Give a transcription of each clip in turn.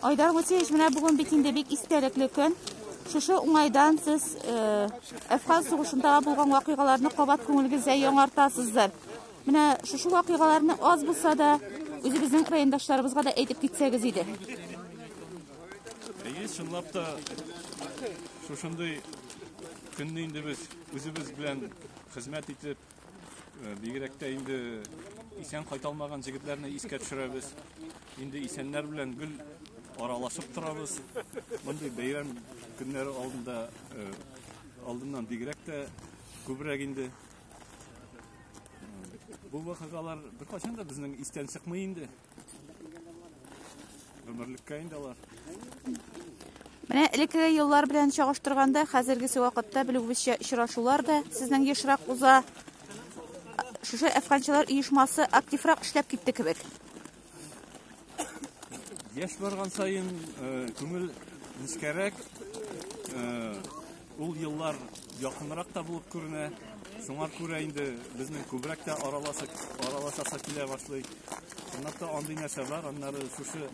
Айдар Гутеевич, менә бүген бит инде бик истәлекле көн. Шушы уңайдан сез э, Әфган сугышында булган вакыйгаларны кабат күңелегездә яңартасыздыр. Менә шушы вакыйгаларны аз булса да үзебезнең райондашларыбызга да әйтеп китсәгез иде. Әйе, чынлап та шушындый көнне инде без үзебез белән хезмәт итеп Э, бигрәк тә инде исән кайталмаган җегетләрне искә төшерәбез. Инде исәннәр белән гел аралашып торабыз. Мондый бәйрәм көннәре алдында э, алдыннан бигрәк тә күбрәк инде бу вакыйгалар беркайчан да безнең истән чыкмый инде. Гомерлеккә инде алар. Менә элеккеге еллар белән чагыштырганда, хәзергесе вакытта белүебезчә очрашулар да сезнең ешрак уза. Шушы әфганчылар оешмасы активрак эшләп китте кебек. Яшь барган саен э, күңел нечкәрәк, э, Ул еллар якынрак та булып күренә. Шуңа күрә инде безнең күбрәк тә аралашасы килә башлый. Чынлап та андый нәрсә бар, аннары шушы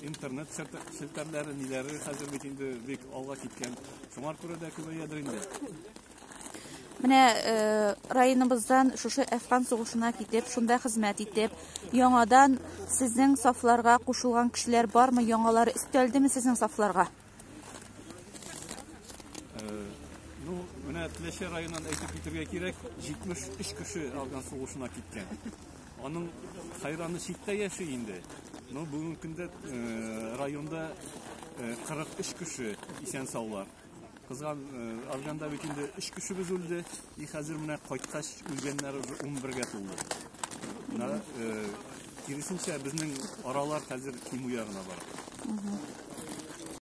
интернет челтәрләре, ниләре хәзер бит инде бик алга киткән. Шуңа күрә дә күбәйәдер инде. Менә э, районыбыздан шушы Әфган сугышына китеп, шунда хезмәт итеп, яңадан сезнең сафларга кушылган кешеләр бармы, яңалары өстәлдеме сезнең сафларга? Теләче районынан әйтеп китергә кирәк, 73 кеше Афган сугышына киткән. Аның хайраны читтә яши инде. Но бүгенге көндә э, районда 43 э, кеше исән саулар. Кызган э, Афганда бит инде 3 кешебез үлде. И хәзер менә кайткач үлгәннәр 11-гә тулды. Менә киресенчә безнең аралар хәзер кимү ягына бара.